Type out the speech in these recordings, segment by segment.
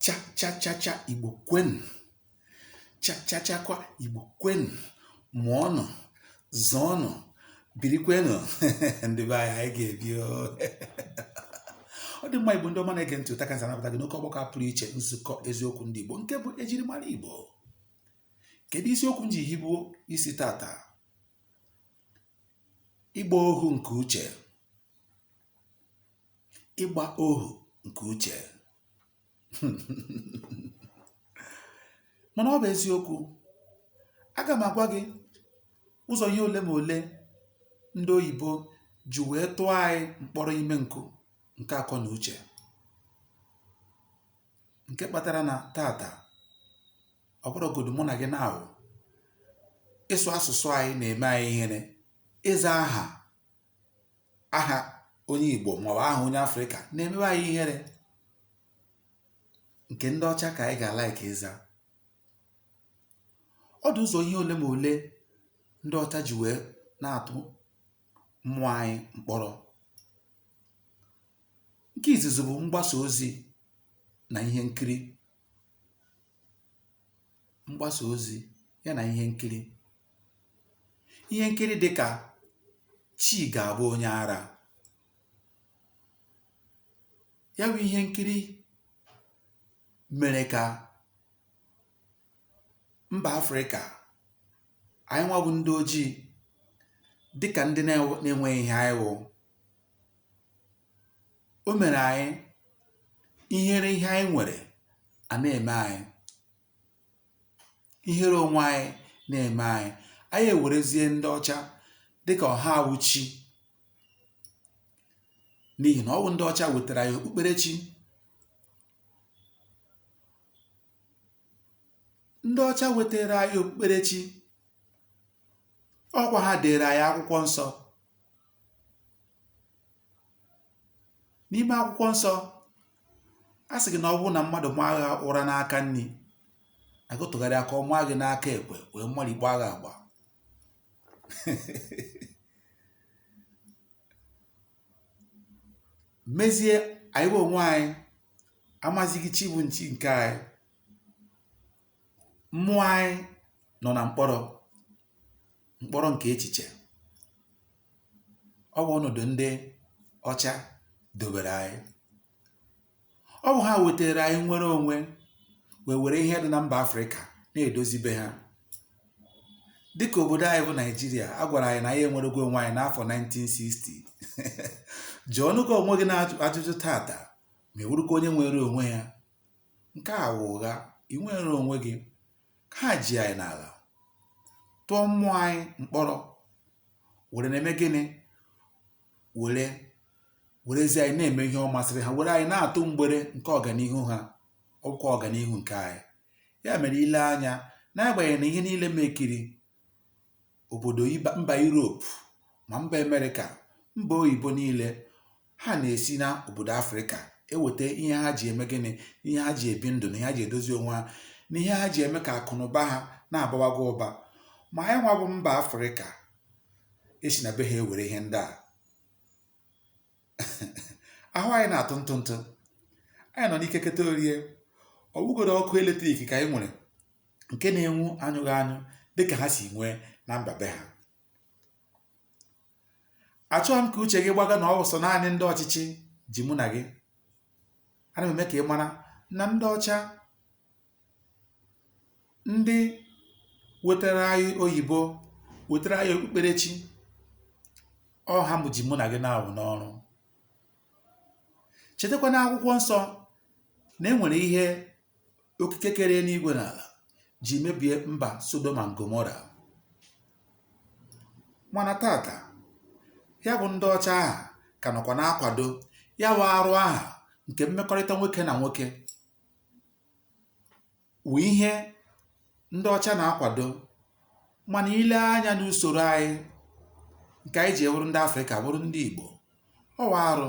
chachachacha igbo kwenu chachachakwa igbo kwenu mụọnụ zọọnụ birikwenụ ndị be anyị anyị ga-ebi o. ọ dị mma igbo ndị ọma na-ege ntị ụta kansa anabata gị n'oke ọgbakọ a pụrụ iche nzukọ eziokwu ndị igbo nke bụ ejirimara igbo kedu isiokwu m ji hibuo isi tata ịgba ohu nke uche ịgba ohu nke uche mana ọ bụ eziokwu aga m agwa gị ụzọ ihe ole ma ole ndị oyibo ji wee tụọ anyị mkpọrọ ime nkụ nke akọ na uche nke kpatara na tata ọ bụrụgodu mụ na gị na-awụ ịsụ asụsụ anyị na-eme anyị ihere ịza aha aha onye Igbo maọbụ aha onye Afrịka na-emewe anyị ihere nke ndị ọcha ka anyị ga-like ịza ọ dị ụzọ ihe ole ma ole ndị ọcha ji wee na-atụ mmụọ anyị mkpọrọ nke izizi bụ mgbasa ozi na ihe nkiri mgbasa ozi ya na ihe nkiri ihe nkiri dị ka chi ga-abụ onye ara ya bụ ihe nkiri mere ka mba afrịka anyị nwa bụ ndị ojii dịka ndị na-enweghị ihe anyị wụ o mere anyị ihere ihe anyị nwere a na-eme anyị ihere onwe anyị na-eme anyị anyị ewerezie ndị ọcha dịka ọ ha wụ chi n'ihi na ọ bụ ndị ọcha wetara anyị okpukperechi ndị ọcha wetara anyị okpukperechi ọkwa ha dere anyị akwụkwọ nsọ N'ime akwụkwọ nsọ, a sị gị na ọ bụrụ na mmadụ maa gị ụra n'aka nri, gị tụgharịa ka ọ maa gị n'aka ekpe wee mapịa gị agba. Mezie anyị bụ onwe anyị amazighị chi bụ chi nke anyị. Mmụọ anyị nọ na mkpọrọ. mkpọrọ nke echiche ọ bụ ọnọdụ ndị ọcha dobere anyị ọ bụ ha wetara anyị nnwere onwe wee were ihe dị na mba afrịka na-edozi be ha dịka obodo anyị bụ naijiria a gwara anyị na anyị enwerego onwe anyị n'afọ 1960 jụọnụkwa onwe gị n'ajụjụ tata ma ị wụrụkwa onye nwere onwe ya nke a wụ ụgha ị nwere onwe gị ha ji anyị n'ala tụọ mmụọ anyị mkpọrọ were na-eme gịnị were werezi anyị na-eme ihe ọ masịrị ha were anyị na-atụ mgbere nke ọganihu ha ọkwa ọganihu nke anyị ya mere i lee anya n'agbanyeghị na ihe niile mekiri òbòdò mbà Europe mà mbà America mbà oyìbo niilė ha nà-èsi na òbòdò afrika ewète ihe ha jì ème gịnị ihe ha jì èbi ndụ̀ nà ihe ha jì èdozi onwe ha nà ihe ha jì ème kà àkụ̀nụ̀ba ha na-àbawaga ụbȧ mà anyị nwȧ bụ mbà afrika e si nà be ha ewère ihe ndị à ahụ anyị na-atụ ntụ ntụ anyị nọ n'ike keta orie ọ bụgodu ọkụ eletrik ka anyị nwere nke na-enwu anyụghị anyụ dịka ha si nwee na mba be ha achọghị m ka uche gị gbaga na ọ wụ sọ naanị ndị ọchịchị ji mụ na gị ana m eme ka ị mara na ndị ọcha ndị wetara anyị oyìbo wètara anyị òkpukperechi ọ ha mụ jì mụ nà gị n'agbụ n'oru chètekwa na akwụkwọ nsọ nà e nwèrè ihe okike kere enigwė nà àlà jì mebìe mbà sodom and gomora mànà tata ya bụ̇ ndị ọcha ahụ̀ kà nọ̀kwà na-akwàdo ya wụ̇ arụ ahụ̀ ǹkè mmekọrịta nwokė nà nwokė wụ̀ ihe ndị ọcha nà-akwàdo mànà i lee anyȧ n'usòrò anyị ǹkè ànyị jì wụrụ ndị afrikà wụrụ ndị ìgbò ọ wụ̀ arụ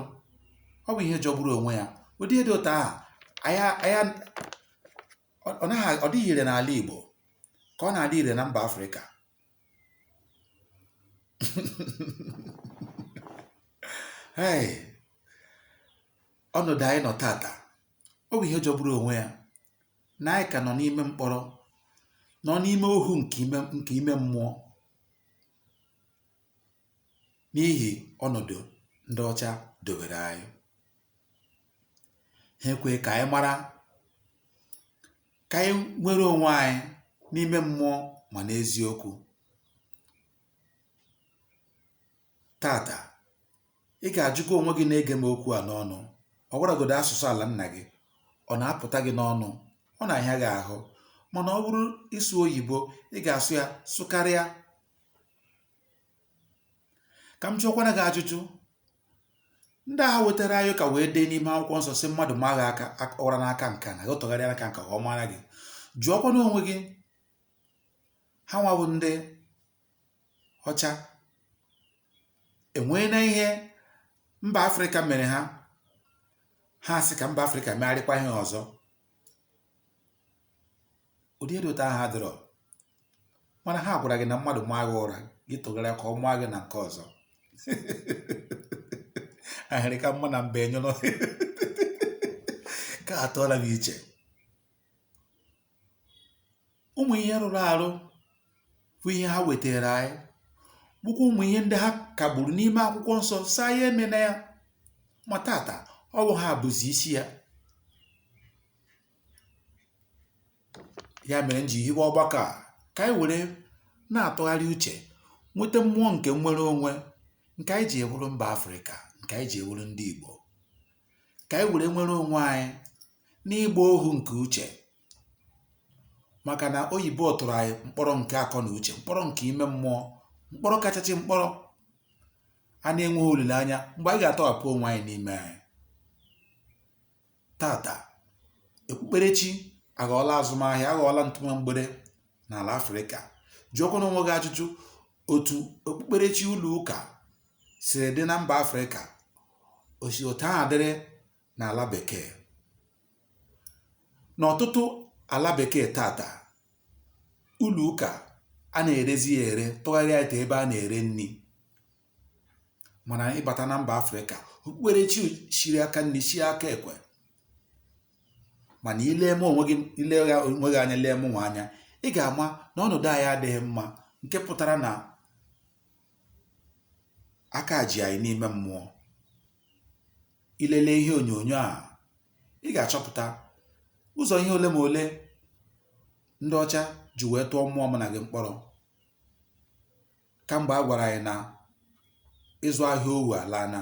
ọ wụ̀ ihe jọgburu ònwe yȧ ụ̀dị ihe dị òtù ahụ̀ ọ̀ naghị ọ̀ dịghị ìrè n'àla ìgbò kà ọ nà-àdị ìrè nà mbà afrikà heì ọnọdụ anyị nọ tata ọ bụ ihe jọgburu onwe ya na anyị ka nọ n'ime mkpọrọ nọ n'ime ohu nke ime mmụọ n'ihi ọnọdụ ndị ọcha dobere anyị ha ekwe ka anyị mara ka anyị nwere onwe anyị n'ime mmụọ ma n'eziokwu Tata, ị ga-ajụkwa onwe gị na-ege m okwu a n'ọnụ ọ gwaragodo asụsụ ala nna gị ọ na-apụta gị n'ọnụ ọ na-ahịa gị ahụ mana ọ bụrụ ịsụ oyibo ị ga-asụ ya sụkarịa ka m jụọkwana gị ajụjụ ndị ahụ wetara anyị ụka wee dee n'ime akwụkwọ nsọ sị mmadụ maa gị aka ak- ụra n'aka nka na gị tụgharịa n'aka nka ka ọ mara gị jụọkwana onwe gị ha nwa bụ ndị ọcha e nweena ihe mba afrịka mere ha ha sị ka mba afrịka megharịkwa ihe ọzọ ụdị ihe dị otu ahụ adịrọ mana ha gwara gị na mmadụ maa gị ụra gị tụgharịa ka ọ maa gị na nke ọzọ ahịrị ka mma na mba enyụrụ ka atụọla m iche ụmụ̀ ihe rụrụ àrụ bụ ihe ha wètèrè anyị bụkwa ụmụ̀ ihe ndị ha kàgbùrù n'ime akwụkwọ nsọ sị anyị emena ya ma tata ọ bụ ha bụzì isi ya ya mere m ji hiwe ọgbakọ a ka anyị were na-atụgharị uche nweta mmụọ nke nnwere onwe nke anyị ji wụrụ mba afrịka nke anyị ji wụrụ ndị igbo ka anyị were nwere onwe anyị n'ịgba ohu nke uche maka na oyibo tụrụ anyị mkpọrọ nke akọ na uche mkpọrọ nke ime mmụọ mkpọrọ kachasị mkpọrọ a na-enweghị olileanya mgbe anyị ga-atọghapụ onwe anyị n'ime anyị tata okpukperechi aghọọla azụmahịa aghọọla ntụma mgbere n'ala afrịka jụọkwana onwe gị ajụjụ otu okpukperechi ụlọ ụka siri dị na mba afrịka o si otu ahụ adịrị n'ala bekee n'ọtụtụ ala bekee tata ụlọ ụka a na-erezi ya ere tụgharịa into ebe a na-ere nri mana ịbata na mba afrịka okpukperechi shiri aka nri shie aka ekpe mana i lee onwe gị anya lee mụ nwa anya ị ga-ama na ọnọdụ anyị adịghị mma nke pụtara na aka ji anyị n'ime mmụọ i lelee ihe onyonyo a ị ga-achọpụta ụzọ ihe ole ma ole ndị ọcha ji wee tụọ mmụọ mụ na gị mkpọrọ kamgbe a gwara anyị na ịzụ ahịa ohu alaana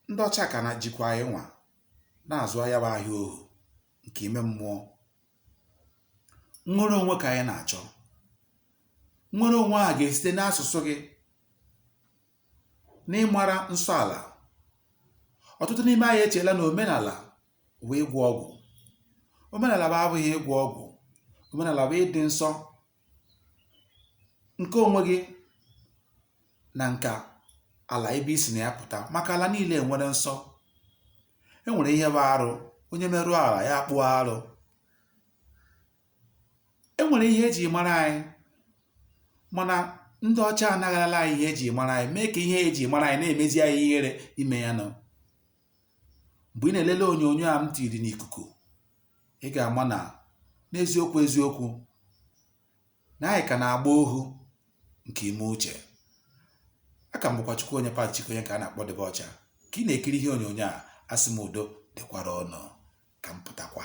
ndị ọcha ka na jikwa anyị nwa na-azụ ahịa bụ ahịa ohu nke ime mmụọ nnwere onwe ka anyị na-achọ nnwere onwe ahụ ga-esite n'asụsụ gị n'ịmara nsọ ala ọtụtụ n'ime anyị echeela na omenala bụ ịgwọ ọgwụ omenala bụ abụghị ịgwọ ọgwụ omenala bụ ịdị nsọ nke onwe gị na nke ala ebe i si na ya pụta maka ala niile enwere nsọ enwere ihe bụ arụ onye merụọ ala ya akpụọ arụ e nwèrè ihe e jì mara anyị mànà ndị ọcha anagharala anyị ihe e jì mara anyị mee kà ihe e jì mara anyị na-èmezi anyị ihere ime ya nọ m̀gbè ị nà-èlele ònyònyo a m tìrì n'ìkùkù ị gà-àma nà n'eziokwu eziokwu nà anyị kà nà-àgba ohu ǹkè ime uchè a kà m bụkwa chukwuonye pati chikwu onye ǹkè a nà-àkpọ dibịa ọcha kà ị nà-èkiri ihe ònyònyo a asị m udo dịkwara unu ka m pụtakwa